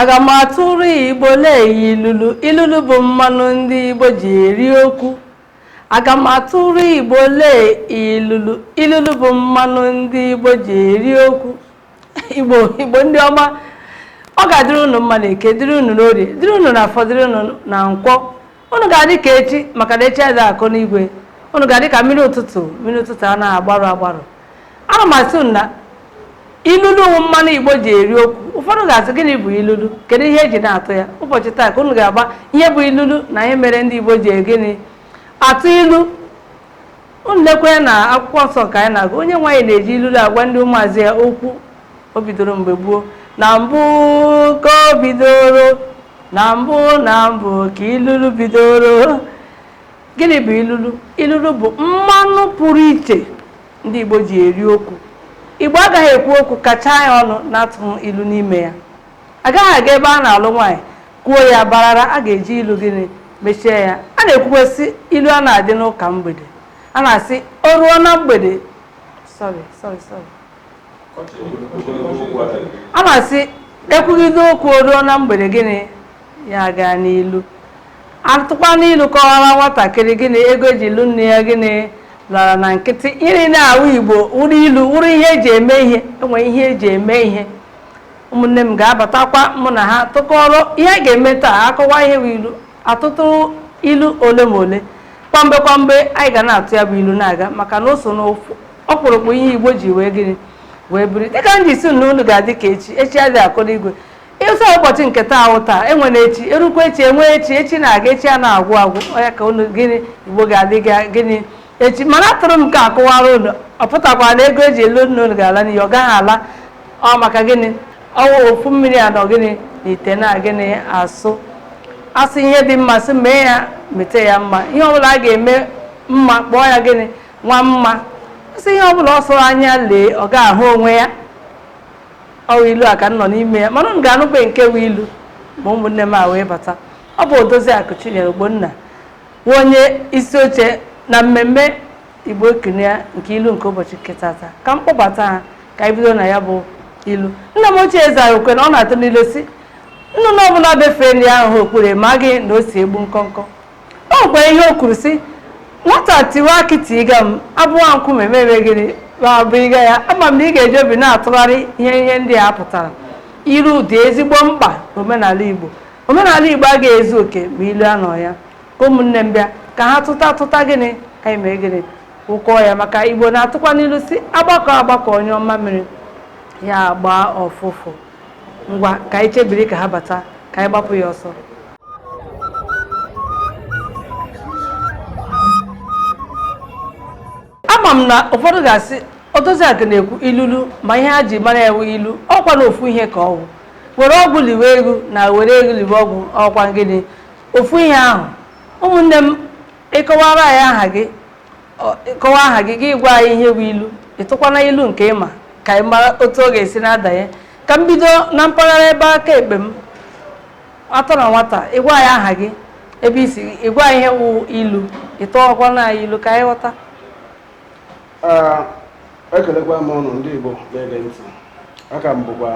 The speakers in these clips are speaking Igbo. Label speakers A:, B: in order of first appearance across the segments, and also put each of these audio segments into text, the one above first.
A: aga m atụrụ igbo lee ilulu ilulu bụ mmanụ ndị igbo ji eri okwu aga m atụrụ igbo lee ilulu ilulu bụ mmanụ ndị igbo ji eri okwu igbo ndị ọma ọ ga-adịrị unu mma na eke dịrị unu n'orie dịrị unu na afọ dịrị unu na nkwọ unu ga-adị ka echi maka na echi adịghị akọ n'igwe unu ga-adị ka mmiri ụtụtụ mmiri ụtụtụ a na-agbarụ agbarụ ana m asị unu na ilulu wụ mmanụ igbo ji eri okwu ụfọdụ ga-asị gịnị bụ ilulu kedu ihe eji na-atụ ya ụbọchị taa ka unu ga-ama ihe bụ ilulu na ihe mere ndị igbo ji gịnị atụ ilu unu lekwe na akwụkwọ nsọ ka anyị na-agụ onyenwe anyị na-eji ilulu agwa ndị ụmụazụ ya okwu o bidoro mgbe gboo na mbụ ka o bidoro na mbụ na mbụ ka ilulu bidoro gịnị bụ ilulu ilulu bụ mmanụ pụrụ iche ndị igbo ji eri okwu igbo agaghị ekwu okwu kachaa ya ọnụ na-atụghị ilu n'ime ya agaghị aga ebe a na-alụ nwaanyị kwuo ya barara a ga-eji ilu gịnị mechie ya a na-ekwukwa sị ilu a na-adị n'ụka mgbede a na-asị o ruo na mgbede sorry sorry sorry a na-asị ekwugide okwu o ruo na mgbede gịnị ya gaa n'ilu atụkwanụ ilu kọwara nwatakịrị gịnị ego eji lụ nne ya gịnị lara na nkịtị iri na-awụ igbo wụrụ ilu wụrụ ihe eji eme ihe enwe ihe eji eme ihe ụmụnne m ga-abatakwa mụ na ha tụkọrọ ihe a ga-eme taa akọwa ihe wụ ilu atụtụ ilu ole ma ole kwamgbe kwamgbe anyị ga na-atụ ya bụ ilu na-aga maka na o so n'ọkpụrụkpụ ihe igbo ji wee gịnị wee biri dịka m ji sị na unu ga-adị ka echi echi adịghị akọ n'igwe ịsọ ụbọchị nke taa ahụ taa enwe na echi erukwa echi enwe echi echi na-aga echi a na-agwụ agwụ ọ ya ka unu gịnị igbo ga-adị ka gịnị echi mana atụrụ m ka akọwara unu ọ pụtakwa na ego eji lụ nne unu ga-ala n'iyi ọ gaghị ala ọ maka gịnị ọwụ ofu mmiri a nọ gịnị na ite na gịnị asụ asị ihe dị mma sị mee ya mete ya mma ihe ọbụla a ga-eme mma kpọọ ya gịnị nwa mma asị ihe ọbụla ọ sọrọ anya lee ọ ga-ahụ onwe ya ọwụ ilu a ka m nọ n'ime ya mana unu ga-anụkwe nke wụ ilu ma ụmụnne m a wee bata ọ bụ odoziakụ chinyere ogbonna wụ onye isi oche na mmemme Igbo ekene ya nke ilu nke ụbọchị nke tata ka m kpọbata ha ka anyị bido na ya bụ ilu nna m ochie eze anyị okwe na ọ na-atụ n'ilu sị nnụnụ ọbụla befee nri ahụ ha okpuru ma gị na o si egbu nkọnkọ o nwekwara ihe o kwuru sị nwata tiwe akị tiga m abụwa nkume mebe gịnị ma bụ ịga ya ama m na ị ga-eji obi na-atụgharị ihe ndị a pụtara ilu dị ezigbo mkpa n'omenala Igbo omenala Igbo agaghị ezu oke ma ilu anọ ya ka ụmụnne m bịa ka ha tụta atụta gịnị anyị mee gịnị ụkọ ya maka igbo na-atụkwa n'ilu sị agbakọ agbakọ nyụọ mamịrị ya gbaa ụfụfụ ngwa ka anyị chebiri ka ha bata ka anyị gbapụ ya ọsọ ama m na ụfọdụ ga-asị odoziakụ na-ekwu ilulu ma ihe ha ji mara ya wụ ilu ọkwa na ofu ihe ka ọ wụ were ọgwụ liwe ego na were ego liwe ọgwụ ọkwa gịnị ofu ihe ahụ ụmụnne m ị kọwara anyị aha gị ọ- ị kọwa aha gị gị gwa anyị ihe bụ ilu ị tụkwana ilu nke ị ma ka anyị mara otu ọ ga-esi na-adanye ka m bido na mpaghara ebe aka ekpe m atọ na nwata ị gwa anyị aha gị ebe i si ị gwa anyị ihe wụ ilu ị tụọkwana anyị ilu ka anyị ghọta
B: Ee, ekelekwa m unu ndị Igbo na-ege ntị aka m bụkwa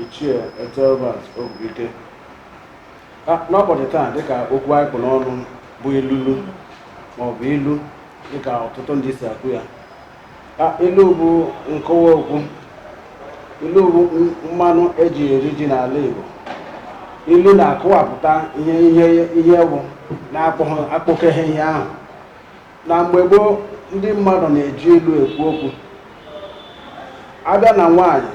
B: ichie Ethelbert Ogbuike N'ụbọchị taa, dịka okwu anyị kpụ n'ọnụ bụ ilulu maọbụ ilu dịka ọtụtụ ndị si akụ ya, ilu bụ nkọwa okwu, ilu bụ mmanụ e ji eri ji n'ala Igbo. Ilu na-akọwapụta ihe ihe ihe bụ na-akpọkeghị ihe ahụ. Na mgbe gboo, ndị mmadụ na-eji ilu ekwu okwu. A bịa na nwaanyị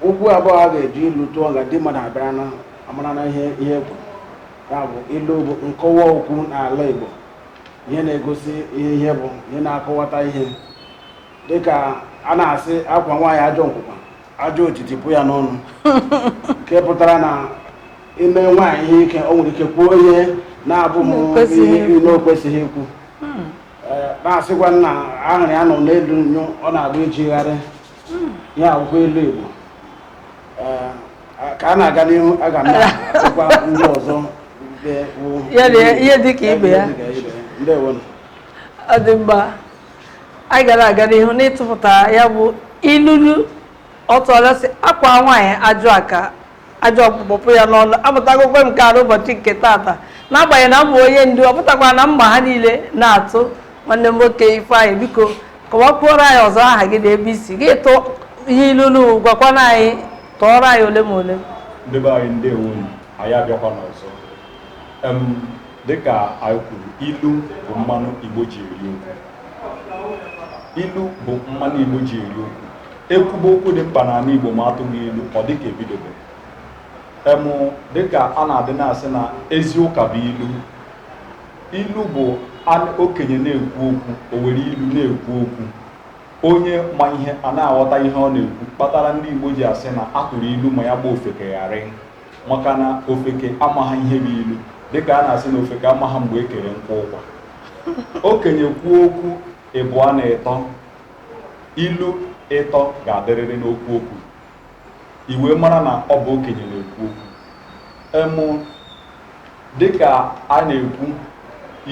B: okwu abụọ a ga-eji ilu tụọ nga ndị mmadụ abịara na amara na ihe ihe ekwu ya bụ ilu bụ nkọwa okwu n'ala Igbo ihe na-egosi ihe ihe bụ ihe na-akọwata ihe dịka a na-asị a kwaa nwaanyị ajọ nkwụkwa ajọ otiti pụ ya n'ọnụ nke pụtara na i mee nwaanyị ihe ike o nwere ike kwuo ihe na-abụghị n'okwesịghị ikwu Ee, na-asịkwa na ahụrụ a nọ n'elu nyụọ na-agba iji gharị hmm. ihe a wụ ilu Igbo eh, ka a na-aga n'ihu aga m na-atụkwa
A: ndị ọzọ ihe dị ka ibe ya ọ dị mma anyị ga na-aga n'ihu n'ịtụpụta ya bụ ilulu ọ tụọla sị a kwaa nwaanyị ajọ aka ajọ ọkpụkpọ pụ ya n'ọnụ amụtagokwa m nke a n'ụbọchị nke taata n'agbanyeghị na m bụ onye ndu ọ pụtakwa na m ma ha niile na-atụ nwanne m nwoke Ifeanyị biko kọwakwuoro anyị ọzọ aha gị na ebe i si gị tụ ihe ilulu gwakwana anyị tụọrọ anyị ole ma ole ndị be anyị
C: ndewo unu anyị abịakwana ọzọ em dịka anyị kwuru ilu bụ mmanụ igbo ji eri okwu ilu bụ mmanụ igbo ji eri okwu ekwuba okwu dị mkpa n'ala Igbo ma atụghị ilu ọ dịka ebidobe em dịka a na-adị na-asị na ezi ụka bụ ilu ilu bụ okenye na-ekwu okwu o were ilu na-ekwu okwu onye ma ihe a na-aghọta ihe ọ na-ekwu kpatara ndị Igbo ji asị na atụrụ ilu ma ya gba ofeke gharịị maka na ofeke amaghị ihe bụ ilu dịka a na-asị na ofeke amaghị mgbe e kere nkụ ụkwa okenye kwuo okwu ịbụọ na ịtọ ilu ịtọ ga-adịrịrị n'okwu okwu i wee mara na ọ bụ okenye na-ekwu okwu em dịka a na-ekwu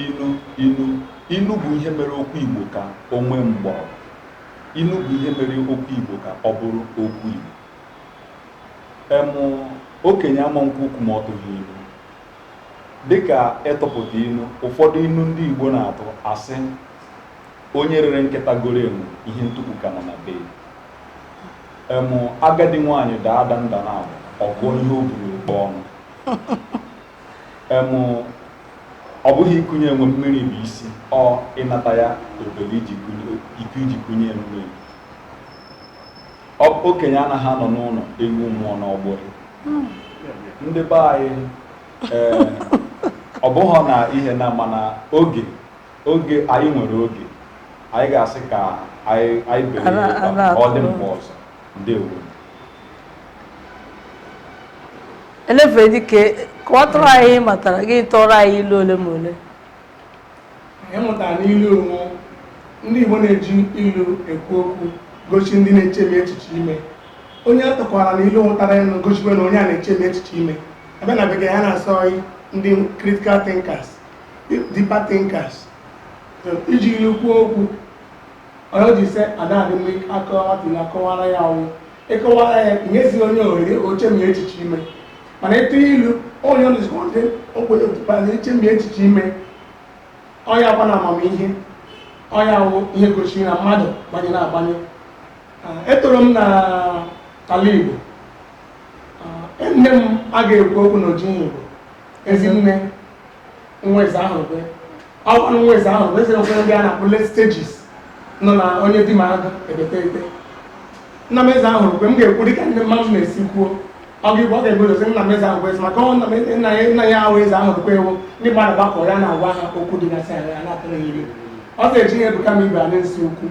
C: ilu ilu ilu bụ ihe mere okwu igbo ka o nwee mgbọrọgwụ ilu bụ ihe mere okwu igbo ka ọ bụrụ okwu igbo em okenye ama ekwu okwu ma ọ tụghị ilu dịka ịtụpụta ilu ụfọdụ ilu ndị igbo na-atụ asị onye rere nkịta goro enwe ihe ntukwu ka nọ na be em agadi nwaanyị daa ada nda naabọ a gụọ ihe o bu n'ukpa ọnụ em ọ bụghị ịkụnye enwe mmiri bụ isi ọ ịnata ya obere i ji kụnye- iko i ji kụnye ya mmiri Ọ- okenye anaghị anọ n'ụlọ ewu amụọ n'ọgbụrị. ndị be anyị ee, ọ bụghị na ihe na mana oge Oge anyị nwere oge, anyị ga-asị ka anyị anyị bere Ala- ya ala ka ọ dị atụrụ. mgbe ọzọ.
A: Ndewo. elefere dike kọwatụrụ anyị ihe ị matara gị tụọrọ anyị ilu ole ma ole
D: anyị mụtara n'ilu onwe ndị igbo na-eji ilu ekwu okwu gosi ndị na-echemi echiche ime onye a tụkwara na ilu nwetara ya na gosikwa na onye a na-echemi echiche ime abịa na bekee ha na-asị ọ ndị critical thinkers deeper thinkers iji ilu kwuo okwu onye o ji sị adadị mma akọwa nwata na akọwara ya ọ wụ ịkọwara ya nyezi onye ohere o chemie echiche ime mana ịtụ ilu onye ọnụzikọdị ogbenye otupana ichemi echiche ime ọ yakwa na amamihe ọ ya wụ ihe gosiri na mmadụ gbanye na agbanye etoro m na ala igbo nne m a ga-ekwu okwu n'oji igbo ezinne nwa eze ahụrụkwe ọkwa na nwa eze ahụrụkwe eze nkwere ndị a na-akpọ late stages nọ na onye di m agụ ebete ete nna m eze ahụrụkwe m ga-ekwu dịka ndị mmadụ na-esi kwuo ọ ga-egbu ọ ga-egbu dozi nna m eze ahụ bụ eze maka ọ nna m nna ya nna ya ahụ eze ahụrụkwe ewu ndị mmadụ gbakọ ya na-agwa ha okwu dịgasị ala ya na-atụrụ ya ilu ọ ga-eji ihe ebuka m ibe a na-esi okwu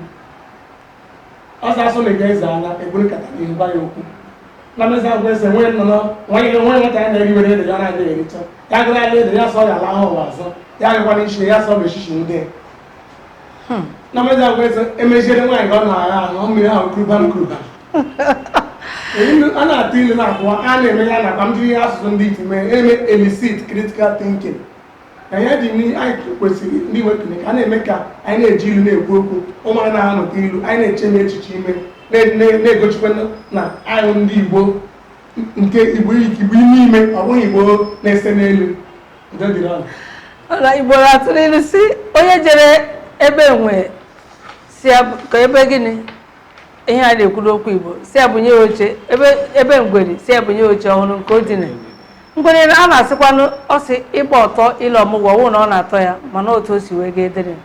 D: ọsọ asụ na ebe eze anya ekpuru nkata n'ihu gwa ya okwu na mezi agwa eze nwee nnụnụ nwanyị gị nwanyị nwata ya na-eri were ede ya na-adịghị ericha ya gụrụ ala ede ya sọ ya ala ahụ ụwa azụ ya gịkwa na ichie ya sọ bụ echichi ndị na mezi agwa eze emeziere nwaanyị ka ọ na-agha ahụ ọ mmiri ahụ kuruba m kuruba Ilu- a na-atụ ilu na-akọwa a na-eme ya nakwa m jiri asụsụ ndị iti mee eme elicit critical thinking na ya dị n'ihe anyị kwesịrị ndị iwe kene ka a na-eme ka anyị na-eji ilu na-ekwu okwu ụmụaka na-amụta ilu anyị na-eche na echiche ime na- na- na-egosikwa na- na anyị ndị igbo nke igbo igbo ime ime ọ bụghị igbo na-ese n'elu udo dịrị ọnụ
A: ọla igbo atụrụ ilu si onye jere ebe enwe si ya bụ- ka ebe gịnị ihe a na-ekwu n'okwu igbo si ya bunye oche ebe ebe ngwere si ya bunye oche ọ hụrụ nke o dina ngwere a na-asịkwanụ ọ sị ịgba ọtọ ile ọmụgwọ wụ na ọ na-atọ ya mana otu o si wee ga edere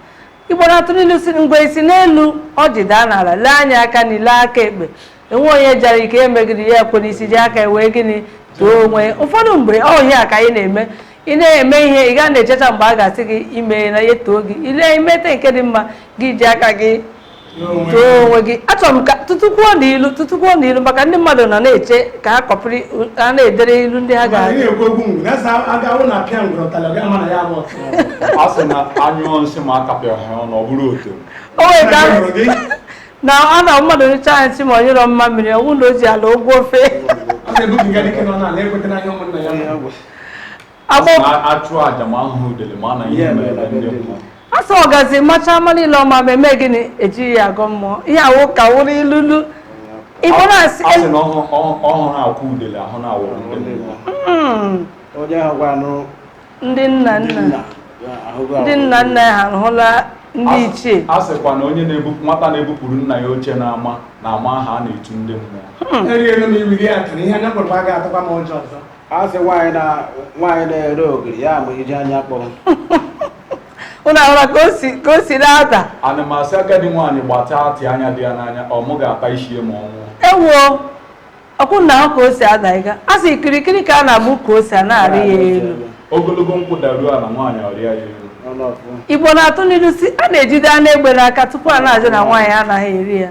A: igbo na-atụ n'ilu si ngwere si n'elu ọjị daa n'ala lee anya aka nri lee aka ekpe enwe onye jara ike eme gịnị ya ekwe n'isi ji aka wee gịnị too onwe ụfọdụ mgbe ọ ihe a ka anyị na-eme ị na-eme ihe ị ga na-echecha mgbe a ga-asị gị i mena ya too gị i mete nke dị mma gị ji aka gị too onwe gị achọrọ m ka tụtụkwuo n'ilu tụtụkwuo n'ilu maka ndị mmadụ nọ na-eche ka ha kọpịrị ha na-edere ilu ndị ha ga-adị
C: a sị na a nyụọ nsị ma akapịaghị ọnụ ọ bụrụ ọtọrọ nwere
A: ka na a na mmadụ nyụchaa nsị ma ọ nyụrọ mamịrị ọ bụrụ na o ji ala ụgwọ ofe
C: a sị
A: ọgazi machaa mma niile ọ ma ma eme gịnị ejighị ya agọ mmụọ ihe a wụ ka wụrụ ilulu igbo na-asị
C: ọ hụrụ akwụ udele hụrụ ndị
A: nna nna ndị nna nna ha hụla ndị ichie a sịkwa na
C: onye nwata na-ebupụrụ nna ya oche n'ama na-ama aha a na-etu ndị mmụọ
D: hmm. a sị nwaanyị
B: na nwaanyị na-ere ogiri ya ma ijiji anya
A: kpọrọ ụnụ ahụra ka o si ka o si na-ada ana m asị agadi
C: nwaanyị gbata atị anya dị ya n'anya ọ mụ ga-ata isi ya ma ọ nwụọ ewuo
A: ọkwụ na ahụ ka o si ada ị ga-asị kirikiri ka a na-agba ukwu ose anaghị arị ya elu ogologo
C: nkwụ daruo ala nwaanyị arịa ya elu ọnụ ọfụ igbo na-atụ
A: n'ilu si a na-ejide anụ egbe n'aka tupu a na-ajụ na nwaanyị anaghị eri ya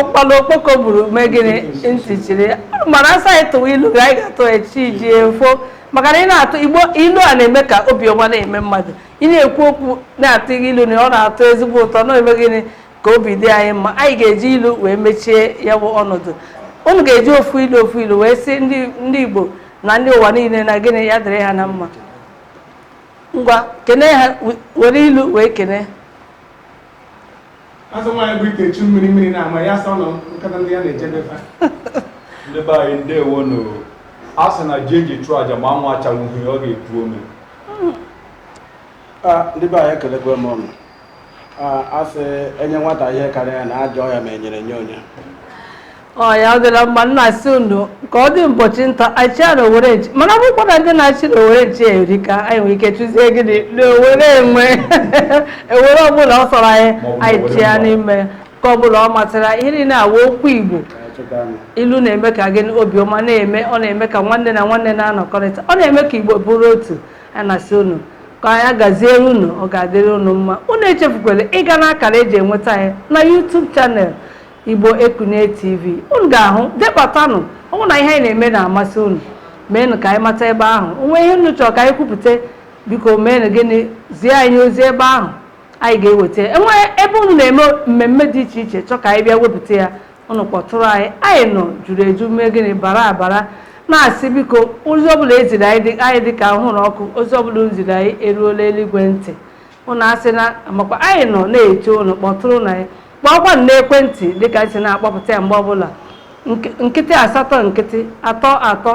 A: ụkpala okpoko gburu mee gịnị ntị chiri mana a sị anyị tụwa ilu na anyị ga-atụ chi ejie efo maka na ị na-atụ igbo ilu a na-eme ka obi ọma na-eme mmadụ ị na-ekwu okwu na-atụ ilu na ọ na-atọ ezigbo ụtọ na-eme gịnị ka obi dị anyị mma anyị ga-eji ilu wee mechie ya bụ ọnọdụ unu ga-eji ofu ilu ofu ilu wee sị ndị igbo na ndị ụwa niile na gịnị ya dịrị ha na mma ngwa kene ha we- were ilu wee
D: kene a sị nwaanyị bu ite chu mmiri mmiri na-ama ya sọ nọ nkata ndị ya na-ejebe fa ndị be
C: anyị ndewo nụ a sị na ji eji chụọ aja ma anwụ achagbughị ọ ga-epu ome
B: Ah, ndị be anyị ekelekwa m unu a sị enye nwata ihe karịa ya na ajụọ ya ma enyere nye onye
A: ọ ya ọ dịla mma na-asị unu ka ọ dị ụbọchị nta achụa na owere nchi mana bụkwa na ndị na-achụ na owere nchi erika anyị nwere ike chụzie gịnị na owere enwe owere ọbụla ọ sọrọ anyị anyị achụa n'ime nke ọbụla ọ masịrị anyị. ilu na-awa okwu igbo ilu na-eme ka gịnị obiọma na-eme ọ na-eme ka nwanne na nwanne na-anọkọrịta ọ na-eme ka igbo bụrụ otu a na-asị unu ka ya gaziere unu ọ ga-adịrị unu mma unu echefukwala ịga n'akara eji enweta anyị na YouTube channel Igbo Ekunie TV unu ga-ahụ debatanụ ọ wụ na ihe anyị na-eme na-amasị unu meenụ ka anyị mata ebe ahụ o nwee ihe unu chọrọ ka anyị kwupụta biko meenụ gịnị zie anyị ozi ebe ahụ anyị ga-eweta e nwee ebe unu na-eme mmemme dị iche iche chọọ ka anyị bịa wepụta ya ụnụ kpọtụrụ anyị anyị nọ juru eju mee gịnị bara abara na-asị biko ozi ọbụla eziri anyị dị ka anwụrụ ọkụ ozi ọbụla ziri anyị eruola eluigwe ntị ụnụ asị na makwa anyị nọ na-eche ụnụ kpọtụrụnụ anyị kpọọkwa na ekwentị dịka anyị si na-akpọpụta ya mgbe ọbụla nkịtị asatọ nkịtị atọ atọ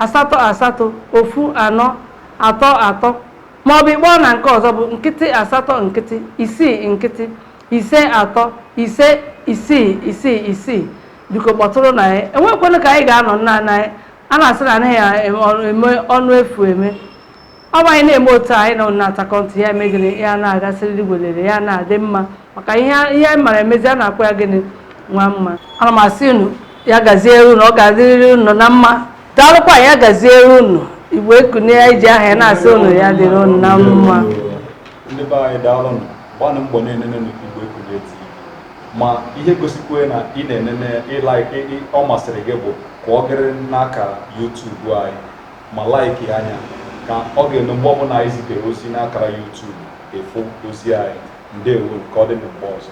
A: asatọ asatọ ofu anọ atọ atọ maọbụ ịkpọọ na nke ọzọ bụ nkịtị asatọ nkịtị isii nkịtị ise atọ ise isii isii isii biko kpọtụrụnụ anyị enwekwanụ ka anyị ga-anọ nna nna anyị ha na-asị na anaghị eme ọnụ efu eme ọ bụ anyị na-eme otu anyị nọ na-atakọ ntị ya eme gịnị ya na-aga siriri werere ya na-adị mma maka ihe ihe anyị mara emezi a na-akpọ ya gịnị nwa mma ana m asị unu ya gazie unu ọ ga-adịrịrị unu na mma daalụkwa ya gazie unu igbo ekunie anyị ji aha ya na-asị unu ya dịrị unu na mma ndị be
C: anyị daalụ nụ gbanụ mbọ na-enene n'Igbo Ekunie TV ma ihe gosikwe na ị na-enene ọ masịrị gị bụ ka ọ gịrị n'akara YouTube anyị ma laiki anyị ka ọ ga-eme mgbe ọbụla anyị zitere ozi n'akara YouTube ị fụ ozi anyị ndewo ka ọ dị na mgbe ọzọ